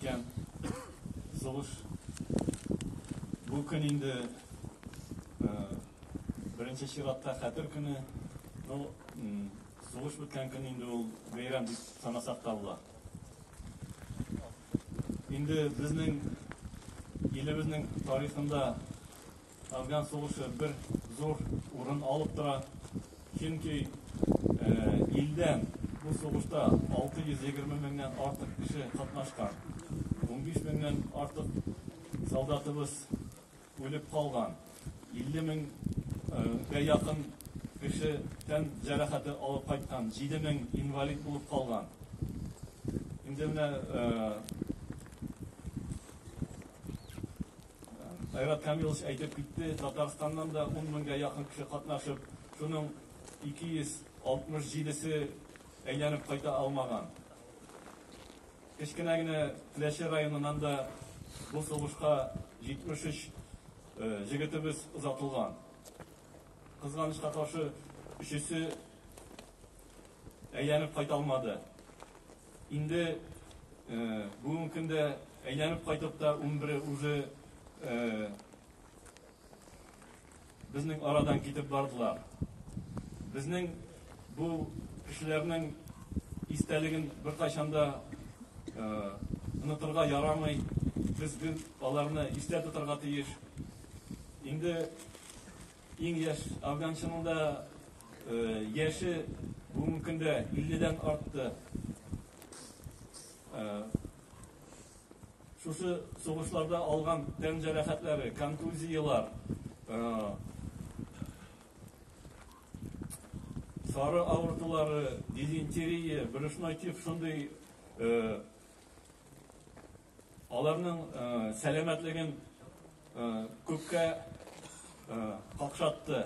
Икән, сулыш. Бу көн инде э, беренче чиратта хәтер көне. Ну, сулыш беткән көн инде ул бәйрәм дип санасак та була. Инде безнең илебезнең тарихында Афган сугышы бер зур урын алып тора. Чөнки илдән бу сугышта 620 меңнән артык кеше катнашкан. 15 меңнән артык солдатыбыз үлеп калган. 50 меңгә якын кеше тән җәрәхәте алып кайткан. 7 мең инвалид булып калган. Инде менә Айрат Камилович әйтеп китте, Татарстаннан да ун меңгә якын кеше катнашып, шуның 267 се әйләнеп кайта алмаган. Кечкенә генә Теләче районыннан да бу сугышка 73 җегетебез озатылган. Кызганычка каршы, өчесе әйләнеп кайта алмады. Инде бүгенге көндә әйләнеп кайтып та унбере үзе безнең арадан китеп бардылар. Безнең бу кешеләрнең истәлеген беркайчан да онытырга ярамый. Без аларны истә тотарга тиеш. Инде Иң яшь афганчының да яше бүгенге көндә 50 дән артты. Шушы сугышларда алган тән җәрәхәтләре, контузияләр, сары авыртулары, дизентерия, брюшной тиф шундый Аларның сәламәтлеген күпкә какшатты.